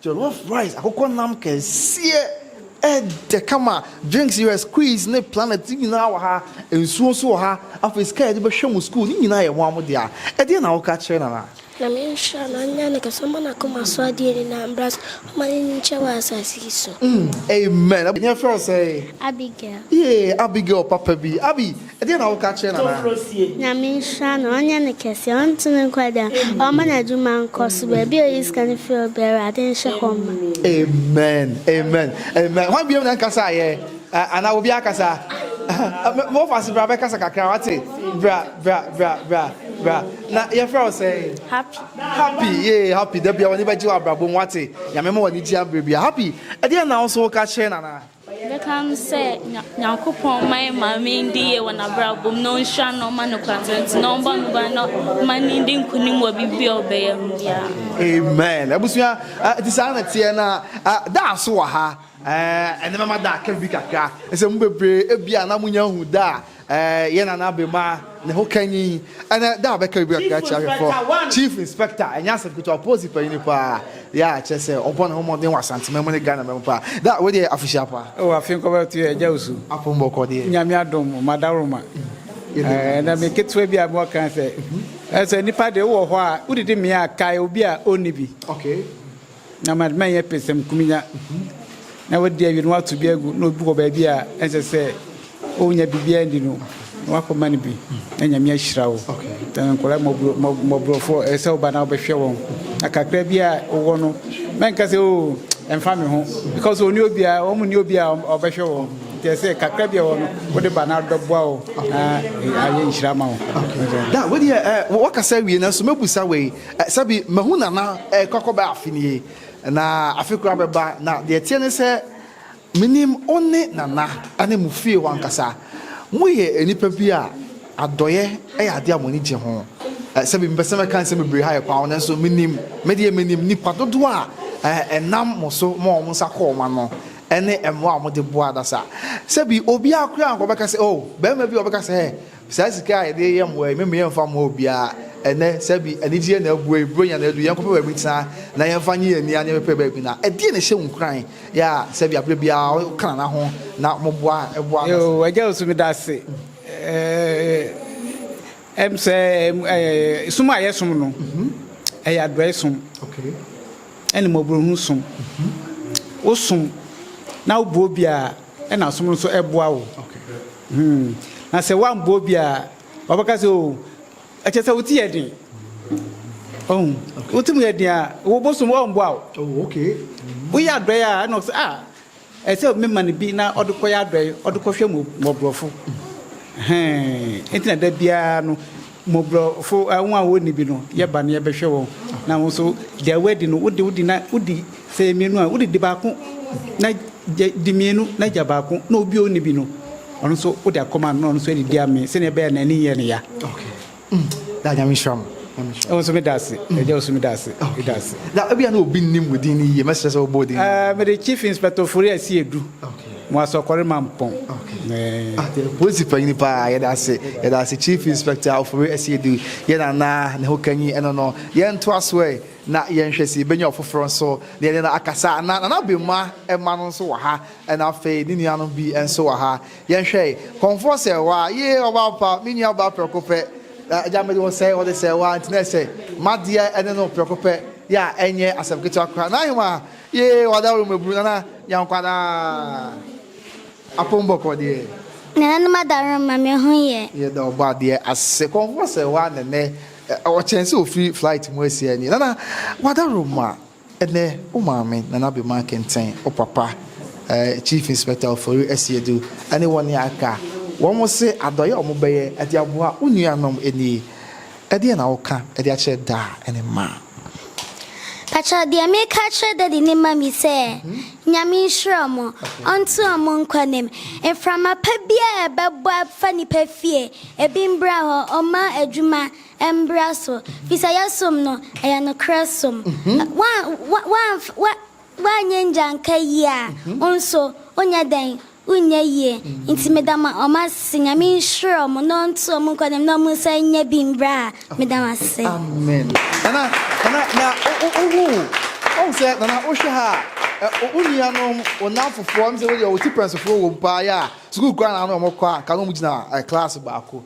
Jollof rice, akokɔ nam kɛseɛ, ɛdɛ kama, drinks yɛ squeeze ne planet, ne nyinaa wɔ ha, nsuo nso wɔ ha, afei sika a yɛde bɛhwɛ mo sukuu, ne nyinaa yɛ mo ara mo dea. Ɛdeɛn na woka kyerɛ Nana? Nyame nhyira no, ɔnyɛ ne kɛse, ɔmma n'akoma so adeɛ nyinaa mmra so, ɔmma n'ani nkyɛ wɔ asase yi so. Amen. Ɛdeɛn yɛfrɛ wo sɛn? Abigail. Yee, Abigail papa bi. Abi, Ɛdeɛn na woka kyerɛ Nana? Nyame nhyira no, ɔnyɛ no kɛseɛ, ɔnto no nkwa da, ɔmma n'adwuma nkɔ so, baabi a ɔyi sika no firi ɔbrɛ, Awurade nhyɛ hɔ mma. Amen amen amen hwan biom na nkasa yɛ ana obi akasa mofas bra bɛkasa kakra wate bra bra bra bra bra na yɛfrɛ wo sɛ happy happy ye happy da bia wɔne bɛgye wɔ abrabɔ mu wate nyame ma wɔne gye abrɛ bia happy ɛdeɛ na wo so woka kyerɛ nana Mɛka no sɛ Nyankopɔn mma yɛn maame ndi yie wɔ n'abrabɔ mu na ɔnhyira no na ɔma no kwantenten na ɔmmɔ no ban na ɔma no ndi nkonim wɔ biribi a ɔbɛyɛ mu biara. Amen. Abusua, ɛte saa na teɛ na da so wɔ ha. Ɛnɛ mɛma da aka biribi kakra. Ɛsɛ mu bebree ebia na monya hu da a Ɛɛ yɛ nana abemaa ne ho kanyi ɛnɛ da bɛka bibi kakra kyerɛ ahwɛfɔ chief inspector ɛnyɛ asɛm ketewa polisi panyini paa yɛ a kyerɛ sɛ ɔbɔ ne ho mmɔden wɔ asantema mu ne ghana ma mu paa da wei deɛ afihyia paa ɛwɔ afe nkɔbɛto yɛ agya osu apo mbɔkɔ deɛ nyame adom ma daworoma ɛɛ na me ketewa bi a mewɔ kan sɛ ɛsɛ nipa deɛ wowɔ hɔ a wodidi mmea a kae obi a ɔnni bi okay Na ma ma ɛnyɛ pɛsɛm kumenya na wadi awie na wato bi agu na obi wɔ baabi a ɛnsɛ sɛ ɔnya biribiara ndi no na wakɔma no bi na nyame ahyira wo na nkɔla mmɔborɔfoɔ ɛsɛ sɛ woba na wobɛhwɛ wɔn na kakra bi a wowɔ no mɛnka sɛ o ɛmfa me ho because ɔne obiara wɔn ne obiara ɔbɛhwɛ wɔn nti ɛsɛ kakra bi a wɔ no wode ba na bɛboa wo na ayɛ nhyira ma wo da wode wɔkasa wie no nso mɛbusa wei Sɛbi mahu Nana rekɔ akɔbɛyɛ afe nie, na afe koro abɛba, na deɛ ɛteɛ ne sɛ, menim wo ne Nana ne mo fie hɔ ankasa. Moyɛ nnipa bi a adɔeɛ yɛ adeɛ a mo ani gye ho. Sɛbi mempɛ sɛ mɛka nsɛm bebree ha yɛ kwan ho, nanso menim, me deɛ menim nnipa dodoɔ a ɛnam mo so ma wɔn nsa kɔ wɔn ano ne mmoa a mode boa adasa. Sɛbi obiara koraa ankɔbɛka sɛ, oh, barima bi a ɔbɛka sɛ, Saa sika a yɛde yɛ mmoa yi, meme yɛmfa mmoa obiara ɛnnɛ, sɛ bi anigyeɛ na abue, Buronya na adu, yɛnkɔpɛ baabi ntena na yɛmfa nye yɛn ani aneɛ pɛpɛ baabi na ɛdeɛn na ɛhyɛ wo nkuran yɛ a sɛ bi a berɛ biara woka Nana ho na moboa boa no ase? Agya Owusu meda ase. Ɛm sɛ som a yɛsom no ɛyɛ adɔe som ɛne mmɔborɔhunu som. Wosom na woboa obi a ɛna som no nso boa wo. Hmm, na sɛ woammɔ obi a, ɔbɛka sɛ o, ɛkyɛ sɛ wote yɛ den. Ɔhu, wote mu yɛ den a, wo bosom ɔmboa wo. Oh, okay. Woyɛ adɔe a, ɛna ɔsɛ, ah, ɛsɛ mema no bi na ɔde kɔyɛ adɔe, ɔde kɔhwɛ mmɔborɔfo. Hɛn, nti na da biara no, Mmɔborɔfo, wɔn a wɔnni bi no, yɛ ba na yɛbɛhwɛ wɔn, na wo nso, deɛ woadi no, wode wodi na wodi, sɛ ɛyɛ mmienu a, wode di baako na gya, di mmienu na gya baako, na obi a ɔnni bi no, ɔno nso wode akɔma no na ɔno nso adidi amee, sɛdeɛ ɛbɛyɛ a n'ani nyɛ no ya. Okay. Mm. Da Nyame nhyira mo. Nyame nhyira. Ɛwɔ nso meda ase. Mm. Ɛgya nso meda ase. Okay. Meda ase. Da ebi a na obi nnim wo din no yie, mɛsrɛ sɛ wobɔ din. Ɛɛ, mede Chief Inspector Ofori Asiedu. Okay. Mo asɔkɔre ma mpɔn ɛɛ. Polisi panyin paa yɛda ase yɛda ase chief inspector ofori asiedi yɛ nana ne ho kanyi ɛno no yɛn ntoa so ɛ na yɛn hwɛ si benya ɔfoforo nso na yɛne no akasa na nana bema ɛma no nso wɔ ha ɛna afei ne nua no bi ɛnso wɔ ha yɛn hwɛ ɛ kɔnfoɔ sɛ wa yee ɔbaa pa me nua ɔbaa prɛko pɛ ɛgya mede wɔ sɛ wɔde sɛ wa nti na ɛsɛ madeɛ ɛne no prɛko pɛ yɛ a ɛnyɛ asɛm ketewa koraa na ahema Yee wada wo mabunu nana yankwadaa apom bɔkɔ deɛ. Nananom adawerɛm ma me ho yɛ. Yɛda ɔbɔ adeɛ ase kɔnkɔ sɛ waa nɛnɛ ɔkyɛn sɛ ofiri flight mu asia nie nana wada werɛm ma ɛnɛ wo maame nana bema kenten wo papa ɛɛ chief inspector ofori asiedu ɛne wɔn aka wɔn se adɔyɛ wɔn bɛyɛ ɛde aboa wo nuanom ɛnie Ɛdeɛn na woka de akyerɛ da ne mma? Pakyɛw deɛ meka akyerɛ daddy ne mummy sɛ Nyame nhyira ɔmo, ɔnto ɔmo nkɔ nem, mframa pa biaa a ɛbɛbɔ afa nipa fie ebi mbra hɔ, ɔmma adwuma mbra so, fisɛ yɛsom no ɛyɛ nokorɛ som, wa wa wa wa wanyɛ ngyanka yie a wo nso wonyɛ dɛn Wonyɛ yie nti meda mo ɔmo ase nyame nhyira ɔmo na ɔnto ɔmo nkwa nim na ɔmo nsa nyɛ bi mbra a meda mo ase. Amen nana nana na wohu ɔhu sɛ nana wohwɛ ha a wo nuanom wo namfofoɔ ɛm sɛ wodeɛ wo ti pɛnsofoɔ wɔ mu paa yɛ a sukuu koraa na ano ɔmo kɔ a nka na ɔmo gyina class baako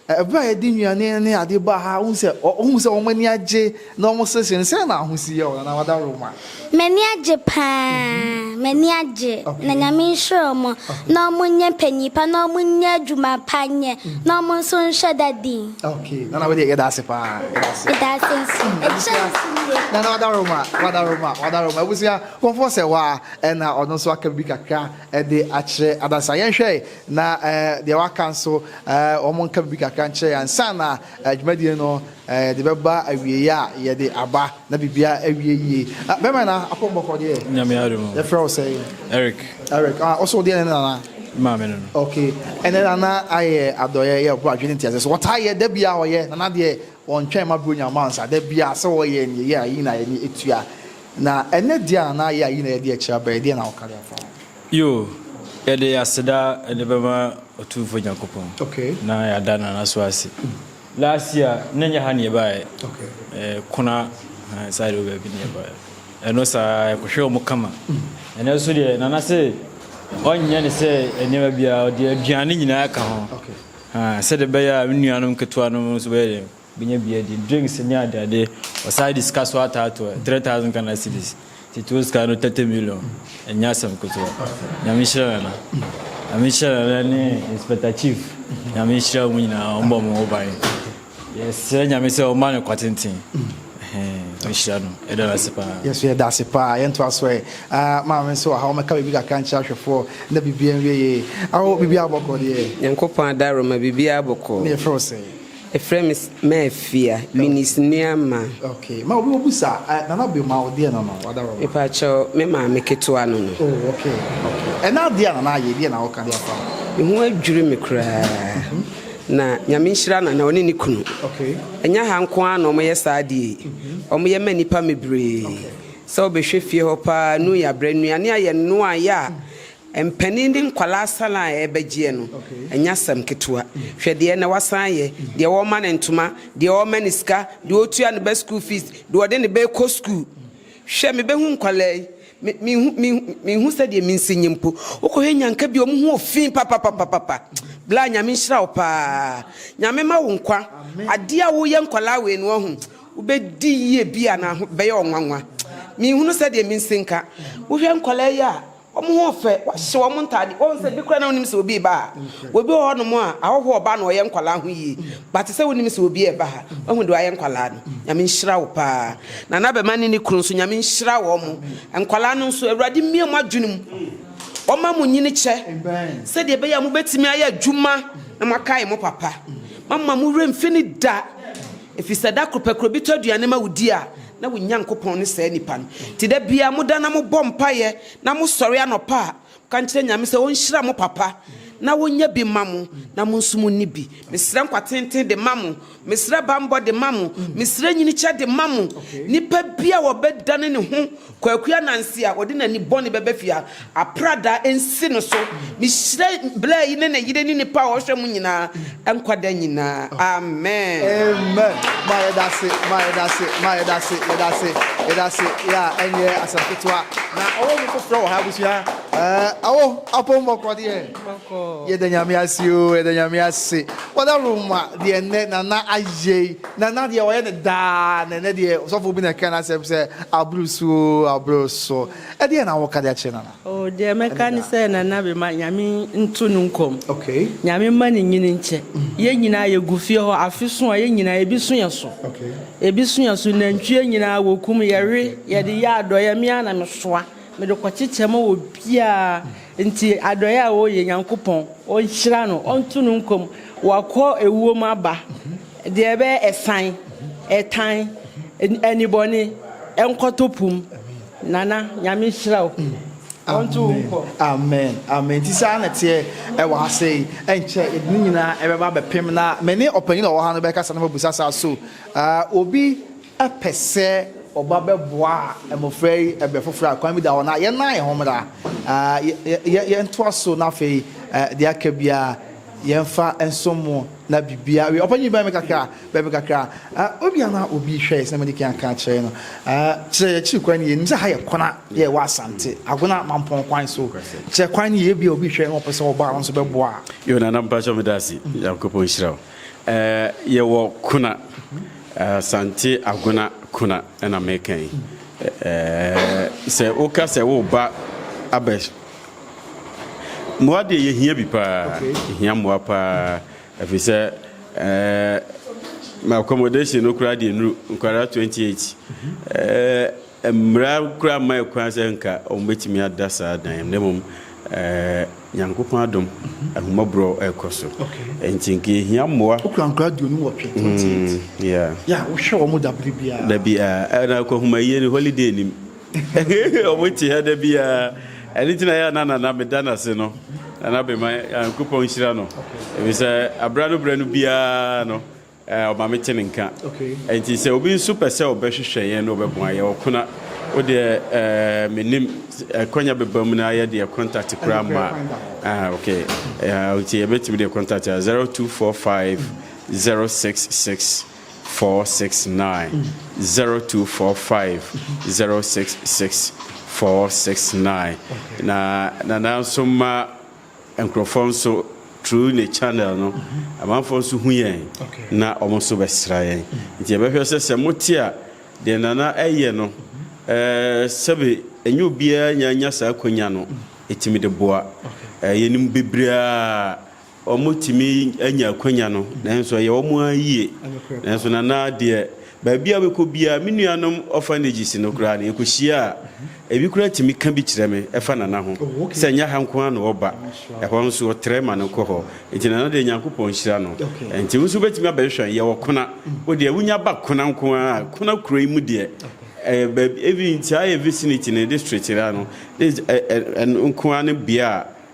Ɛberɛ a yɛde nnuane ne adeɛ baa ha, wohu sɛ, wohu sɛ wɔn ani agye na wɔseresere no, sɛn na w'ahosi yɛ wo, Nana Wadaroma? M'ani agye pa ara, m'ani agye, na Nyame nhyira wɔn, na wɔnyɛ mpanyin pa, na wɔnyɛ adwuma pa nyɛ, na wɔn nso nhwɛ da din. Ok, Nana wodeɛ yɛda ase pa ara, yɛda ase. Meda ase nso, ɛkyɛn nso nie. Nana Wadaroma, Wadaroma, Wadaroma, abusua, kɔmfoɔ sɛ hɔ a, ɛna ɔno nso aka biribi kakra de akyerɛ adansa. Yɛnhwɛ na deɛ waka nso wɔn nka biribi kakra nkyerɛ yɛn ansa na dwumadie no yɛde bɛba awieeɛ a yɛde aba na biribiara awie yie. Bɛma na akɔmbɔfoɔ deɛ. Nyame adum. Yɛfrɛ wo sɛ. Eric. Eric. Ah, also deɛ ne nana. Maame no. Okay. Ɛnɛ nana ayɛ adɔyɛ yɛ ɔbɔ adwene nti ase so wɔtaa yɛ da bia ɔyɛ nana deɛ wɔntwɛn ma buro nyama nsa da bia sɛ wɔyɛ ne yɛ ayi na yɛ ne etua. Na ɛnyɛ deɛ a na ayɛ ayi na yɛde akyiri abrɛ, ɛdeɛn na woka de afa ho? Yoo, yɛde aseda de bɛma Otumfoɔ Nyankopɔn na yɛada no N'aso ase. Last year na ɛnyɛ ha na yɛbaeɛ, Kona ahaa saa deɛ hɔ baabi na yɛbaeɛ. Ɛno saa ara yɛkɔhwɛɛ wɔn kama. Ɛnnɛ nso deɛ Nana se ɔnyɛ no sɛ nneɛma biara, ɔde aduane nyinaa ka ho, ahaa, sɛdeɛ ɛbɛyɛ a me nuanom nketewanom nso bɛyɛ dɛn? Benya bi adi, drinks ne ade ade. Ɔsan de sika so ataa to ɛ, three thousand Ghana cedis. Tete wo sika no thirty million, ɛnyɛ asɛm ketewa. Nyame nhyira Nana. Nyame nhyira Nana ne Inspector Chief. Nyame nhyira wɔn nyinaa, wɔn bɔ wɔn ho ban. Yɛsrɛ Nyame sɛ ɔmma no kwa tenten. Ɛhɛn, ɔnhyira no. Yɛda no ase paa. Yɛn nso yɛda ase paa. Yɛntoa so ɛ. Ah, maame nso wɔ ha, ɔmmɛka biribi kakra nkyerɛ ahwɛfoɔ na biribiara nwie yie. Awo, biribiara bɔkɔ deɛ? Nyankopɔn adaworoma, biribiara bɔkɔ. Ne yɛfrɛ wo sɛn? Efrɛ me Mafia, Eunice Nuamah. Okay, ma obi wɔ bu saa. Eh, Nana Bio, ma ɔdeɛ no no, wada wɔ ma. Mepa kyɛw, me maame ketewa no no. Oh, okay, okay. Ɛna adeɛ a Nana ayɛ, ɛdeɛ na ɔka de afa ho? Me ho adwiri me koraa. Na Nyame nhyira Nana, ɔne ne kunu. Okay. Ɛnyɛ ha nko ara na ɔmo yɛ saa adeɛ yi. Ɔmo yɛ ma nnipa mebree. Sɛ wobɛhwɛ fie hɔ paa, nu yɛ abrɛ, nnuane ayɛ noa yɛ a, Mpanin ne nkwadaa asalan a ɛrebɛgyeɛ no, ɛnyɛ asɛm ketewa. Hwɛ deɛ na wasan ayɛ, deɛ wɔrema no ntoma, deɛ wɔrema no sika, deɛ ɔretua ne ba sukuu fees, deɛ ɔde ne ba rekɔ sukuu. Hwɛ, mebɛhu nkwadaa yi, me, menhu, menhu, menhu sɛdeɛ mensi nye mpo. Wokɔhwɛ Nyanka bi a, wɔn ho wɔ fi papapapapa. Bla, Nyame nhyira wo pa ara. Nyame ma wo nkwa. Adeɛ a woreyɛ nkwadaa wei no, wahu, wobɛdi yie bi a na ho, ɛbɛyɛ wo nwanwa. Menhunu sɛdeɛ mensi nka. Wohwɛ nkwadaa yi a. Wɔn ho fɛ, wɔahyehyɛ wɔn ntade. Wɔn sɛ bi koraa na wonim sɛ obi reba ha. Wɔ bi wɔ hɔ nom a, ahɔho ɔba na ɔyɛ nkwadaa ho yie. But te sɛ wonim sɛ obi reba ha. Wahu deɛ wayɛ nkwadaa no. Nyame nhyira wo paa. Nana Bɛma ne ne kunu nso, Nyame nhyira wɔn. Nkwadaa no nso, Awurade mmue mo adwene mu. Ɔma mo nyini kyɛ. Sɛdeɛ ɛbɛyɛ a mobɛtumi ayɛ adwuma na moakae mo papa. Mamma mo werɛ mfi no da. Ɛfiri sɛ da koro pɛ, kuro bi tɔ aduane ma wo di a, Na wo Nyankopɔn ne saa nipa no. Nti da biaa moda na mobɔ mpaeɛ na mosɔre anɔpa a, moka nkyerɛ Nyame sɛ ɔnhyira mo papa na ɔnyɛ bi mma mo na mo nso monni bi. Mesrɛ nkwa tenten de ma mo. Mesrɛ banbɔ de ma mo. Mesrɛ nyinikyɛ de ma mo. Nipa bi a ɔbɛdane ne ho Kwaku Ananse a, ɔde n'ani bɔne bɛba fie ha. Aprada nsi no so. Mehyira bla yi ne ne yere ne nipa a ɔhwɛ mo nyinaa nkwa da nyinaa. Amen. Amen ma yɛdase ma yɛdase ma yɛdase yɛdase yɛdase yɛ a ɛnyɛ asɛm ketewa na ɔwɔ mu foforɔ wɔ ha abusua ɛɛ awo apɔ mbɔkɔ deɛ yɛda nyame ase o yɛda nyame ase wɔda roma deɛ nnɛ nana ayɛ yi nana deɛ ɔyɛ ne daa na ɛnɛ deɛ ɔsɔfo bi na ɛka n'asɛm sɛ aboro so o aboro so Ɛdeɛn na woka de akyerɛ Nana? Oh, deɛ mɛka ne sɛ Nana me ma Nyame nto no nkɔm. Okay. Nyame mma ne nyini nkyɛ. Yɛn nyinaa yɛgu fie hɔ, afe so a yɛn nyinaa ebi so yɛn so. Okay. Ebi so yɛn so, nantwie nyinaa wɔkum, yɛwe, yɛde yɛ adɔeɛ, me ara na mesoa, mede kɔkyekyɛ ma obiara. Nti adɔeɛ a ɔreyɛ, Nyankopɔn, Ɔnhyira no, Ɔnto no nkɔm, wakɔ ewuo mu aba. Deɛ ɛbɛyɛ ɛsan, ɛtan, anibɔne, ɛnkɔtɔ pum. Nana Nyame nhyira wo. Ɔnto wo nkɔ. Amen amen nti saa na teɛ ɛwɔ ase yi ɛnkyɛ yɛde ne nyinaa ɛbɛba abɛpem na me ne ɔpanyin a ɔwɔ ha no bɛkasa na mabusa saa so uh, obi pɛ sɛ ɔba bɛboa mmofra yi bere foforo a kwan bi da hɔ no a, yɛn ara yɛn ho mmra. Yɛntoa so, na afei deɛ aka biara yɛmfa nsom mo na biribiara wie. Ɔpanyin, bɛn me kakra, bɛn me kakra. Obi a na obi hwɛ yɛ sɛ na madi kan aka akyerɛ no, kyerɛ yɛn akyiri kwan no yie. Nim sɛ ha yɛ kona, yɛ wɔ Asante, Agona Mampɔn kwan so. Kyerɛ kwan no yie, ebia obi hwɛ na ɔpɛ sɛ ɔba a ɔno nso bɛboa. Yona, na mpakyɛw meda ase. Nyankopɔn nhyira wo. Eh, yɛwɔ Kuna, Asante Agona Kuna na meka yi. Eh, sɛ woka sɛ woba abɛ mmoa deɛ yɛhia bi paa, yɛhia mmoa paa ɛfiri sɛ eh, accommodation no koraa deɛ nuru nkwadaa 28 eh, mmara koraa mma ɛkwan sɛ nka wɔbɛtumi ada saa dan mu na mmom eh, Nyankopɔn adom ahummɔborɔ ɛkɔ so nti nka ɛhia mmoa. Wo kura nkura aduonu nwɔtwe, 28. Mm, yeah. Yeah, wo hwɛ wɔn da bere biara. Da biara, ɛna eh, kɔhuma yie ni holiday nim. Wɔn te ha da biara. Ɛne ti na yɛ na nana me da n'ase no. Nana bɛma Nyankopɔn nhyira no. Ebi sɛ abira no bira no biara no. Ɔma mete ne nka. Enti sɛ obi nso pɛ sɛ ɔbɛhwehwɛ yɛn na ɔbɛboa yɛn, ɔkona. Wo deɛ menim, akwanya bɛba mu na ayɛ deɛ contact koraa mma. Ah, okay. Enti yɛbɛtumi deɛ contact a 0245 066 469. 0245 066 469. Na nana nso ma Nkurɔfoɔ nso through ne channel no amanfoɔ nso hu yɛn na wɔn nso bɛsra yɛn nti yɛbɛhwɛ sɛ sɛ mote a deɛ Nana ɛyɛ no sɛbe ɛnyɛ obiara nya nya saa akwanya no ɛtumi de boa yɛnim bebree a wɔtumi anya akwanya no nanso ɛyɛ wɔn ara yie nanso Nana deɛ Baabi a wobɛkɔ biara, me nuanom orphanages no koraa no, yɛkɔhyia a, ebi koraa tumi ka bi kyerɛ me fa Nana ho, sɛ ɛnyɛ ha nko ara na ɔba, ɛhɔ nso ɔtrɛ ma no kɔ hɔ. Enti Nana deɛ, Nyankopɔn nhyira no. Enti wo nso wobɛtumi abɛhwehwɛ, yɛwɔ Kona. Wo deɛ, wonya ba Kona nko ara a, Kona kuro yi mu deɛ, ɛyɛ baabi, even saa yɛn vicinity no, district no ara no, ne, ɛ, ɛ, ɛno nko ara ne bea a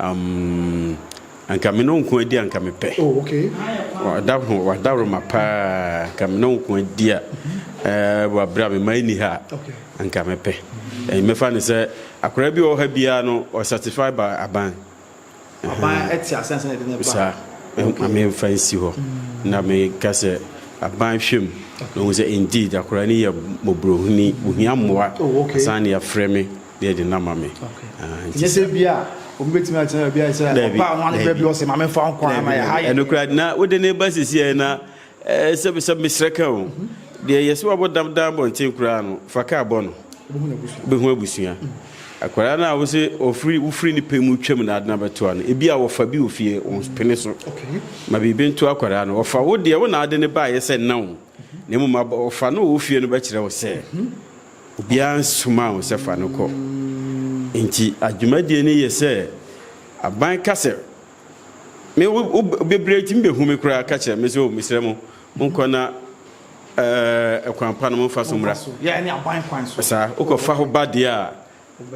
Um, anka me no nko adi anka mepɛ. Oh, okay. Wada ho, wada roma paa, anka me no nko adi a, eh, wabra me ma ni ha, anka mepɛ. Eh, mefa ne sɛ, akora bi wɔ ha biara no, o satisfy ba aban. Aban ɛte ase ansa na de ne ba. Sa, ma me fa nsi hɔ. Mm. Na me ka sɛ, aban hwem. Na hu sɛ, indeed, akora ni yɛ mobrohuni, ohia mmoa. Oh, okay. Asan ne afrɛ me. na yɛde no ama me. Ɛnyɛ sɛ ebi a obi betumi atena baabi ayɛ sɛ ɔba a wɔn baabi ɔsɛ maame fa ho kwan ma yɛ ha yɛ. Ɛno kura na wode ne ba sisi yɛ na ɛɛ sɛ sɛ mesrɛ ka o deɛ yɛsɛ wabɔ dam dan bɔnten koraa no fa kaa bɔ no bɛhu abusua akwadaa no a wosɛ ofiri wofiri ne pɛ mu twam na adena bɛtoa no ebi a wɔfa bi wɔ fie wɔn pene so ma biribi nto akwadaa no wɔfa wo deɛ wo na ade ne ba ayɛ sɛ nna o na mmom ɔfa no wɔ fie no bɛkyerɛ wo sɛ. Obiara nsomaa wo sɛ fa no kɔ. Enti adwumadie no yɛ sɛ aban ka sɛ me wo wo bebree ntumi bɛhu me koraa ka kyerɛ me sɛ o mesrɛ mo monkɔ na ɛɛ ɛkwan pa no momfa so mmra. Saa wokɔfa ho ba deɛ a.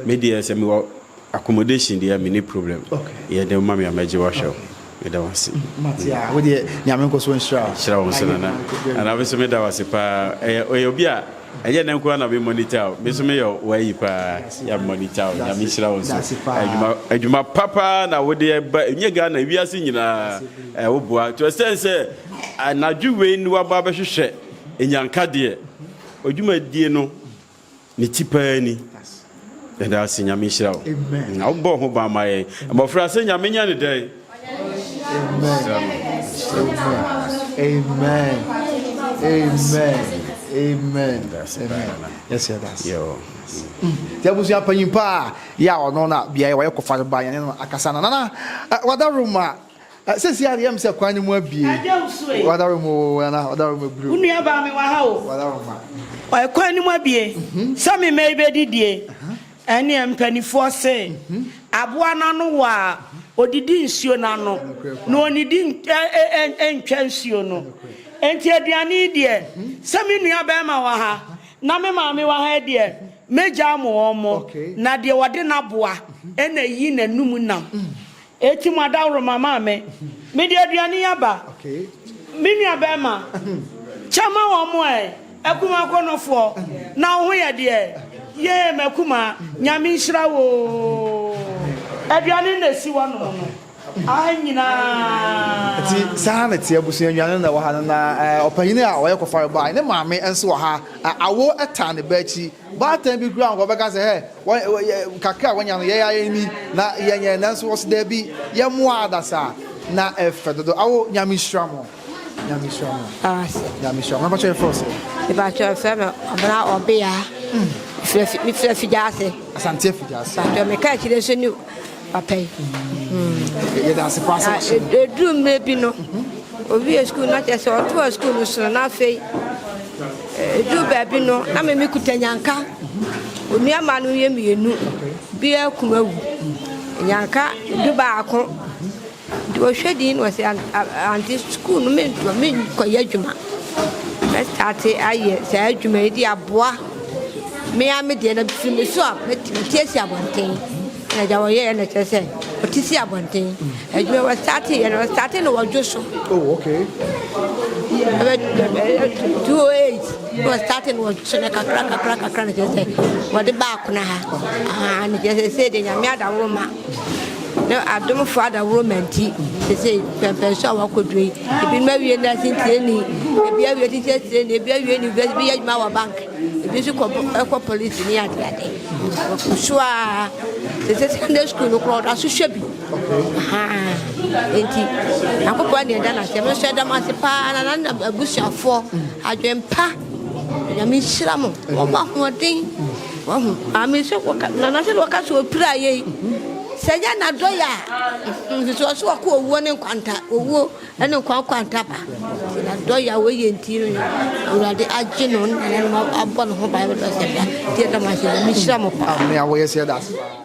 Me deɛ sɛ mewɔ accommodation deɛ menni problem yɛ de woma me a mɛgye wahwɛ wo meda wo ase. Mate a wo deɛ Nyame nkɔ so nhyira wo. Nhyira wo nso Nana. Nana me nso meda wo ase paa ɛyɛ ɔyɛ obi a ɛnyɛ nnɛ nko ara na me monitor wo me nso meyɛ wo ayi paa yɛ me monitor wo Nyame nhyira wo nso adwuma adwuma pa paa na wo deɛ ba ɛnyɛ Ghana ewiase nyinaa ɛɛ wo boa to ɛsɛn sɛ anadwo wei ne waba abɛhwehwɛ enyanka deɛ odwumadie no Ne ti paa ni. Yɛda ase Nyame nhyira wo. Na wobɔ ho ban ma yɛn. Abɔfra sɛ Nyame nyɛ ne dɛn? Amen. Amen. Amen. Yes, yɛda ase. Nti abusua panyin paa yɛ a ɔno na beaeɛ wɔyɛ kɔfa no ba yɛne no akasa no nana wada room a Sɛsi ara deɛ ɛyɛ me sɛ kwan no mu abue. Agya Usu ei. W'adaworo mu oo anaa w'adaworo mu abiri oo. Wo nua baa me wɔ ha oo. W'adaworo mu ma. Kwan no mu abue. Sɛ me mma yi bɛdidie. Ɛnneɛ mpanifoɔ se, Aboa no ano wɔ a, ɔdidi nsuo no ano, na ɔnnidi ntwa nsuo no. Enti aduane yi deɛ, sɛ me nua barima wɔ ha, na me maame wɔ ha deɛ, mɛgya ama wɔn, na deɛ ɔde n'aboa na ɛyi n'anom nam. Eti mo adaworoma maa me. Mede aduane yi aba. Me nuabarima, kyɛ ma wɔn ɛ, akumaa akɔnnɔfoɔ, na wo ho yɛ deɛ? Yee, m'akumaa, Nyame nhyira wo oo. Aduane no na ɛsi hɔ nom no, aha nyinaa. Eti saa na ɛteɛ, abusua, nnuane no na ɛwɔ ha no, na ɛ, ɔpanyin a ɔyɛ kɔfɔre bae. Ne maame nso wɔ ha, ɛ, awo taa ne ba akyi. Baatan bi koraa nka ɔbɛka sɛ, Hey, kakra a wanya no, yɛn ara ni, na yɛnyɛ. Nanso ɔse, Dabi, yɛmmoa adasa a, na ɛfɛ dodo. Awo, Nyame nhyira mo. Nyame nhyira mo. Nyame nhyira mo. Mpakyɛ yɛfrɛ sɛ. Mpakyɛ yɛfrɛ me ɔbena ɔbea. Mefiri afigya ase. Asante afigya ase. Mpakyɛ meka akyire nso ni. Papa yi. Yɛda ase paa sɛ wahyɛ no. Ɛduru mmerɛ bi no, ɔwie sukuu no, na kyerɛ sɛ ɔtoa sukuu no so no, na afei ɛduru baabi no, na me mekuta Nyanka. Onua mmaa no yɛ mmienu, biara kunu awu. Nyanka du baako. Nti ɔhwɛ din na ɔse ante sukuu no mentoa menkɔyɛ adwuma mɛstate ayɛ saa adwuma yi de aboa me ara me deɛ na firi me so a mɛte asi abɔnten na gya wɔyɛɛ na kyerɛ sɛ ɔte si abɔnten adwuma wɔstate yɛ no ɔstate no wɔdwo so oh, okay. 208 na ɔstate no wɔdwo so na kakra kakra kakra na kyerɛ sɛ wɔde baako na ha na kyerɛ sɛ sɛ deɛ nyame adaworo ma Na adomfo adaworoma nti, seesei pɛmpɛn so a wɔakodu yi, ebinom awie nursing training, ebi awie teachers training, ebi awie university, ebi yɛ adwuma wɔ bank, ebi nso kɔ ɛkɔ police ne ade ade. Wɔkɔ so a seesei secondary school no koraa ɔda so hwɛ bi. Ahaa. Enti Nyankopɔn ne ɛda no ase, ɛno nso ɛda mo ase paa na na abusuafoɔ adwempa. Nyame nhyira mo, wɔn ahoɔden. Wahu? Amen. So wɔka nana sɛ wɔka so opira yɛ yi. Sɛ nyɛ n'adɔyɛ a, nso ɔso ɔkɔ owuo ne nkwanta owuo ne nkwa nkwanta ba. Sɛ n'adɔyɛ a wɔyɛ nti no awurade agye no nana no abɔ ne ho ban bɛtɔ sɛ da deɛ dama sɛ nyame hyira mo paa. Amen. Awɔ yɛ sɛ da ase paa.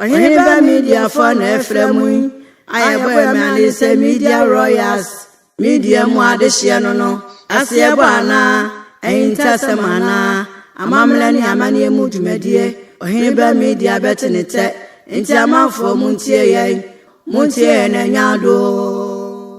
Ɔheneba Mediafoɔ na ɛfrɛ mo yi a yɛbɔ yɛ mmerane sɛ Media Royals Media mu adehyeɛ no no ase ɛbɔ anaa ahintasɛm anaa amammerɛ ne amanneɛ mu dwumadie. Ɔheneba Media bɛte ne tɛ, enti amanfoɔ montie yɛn, montie yɛn na ɛnyɛ adoo.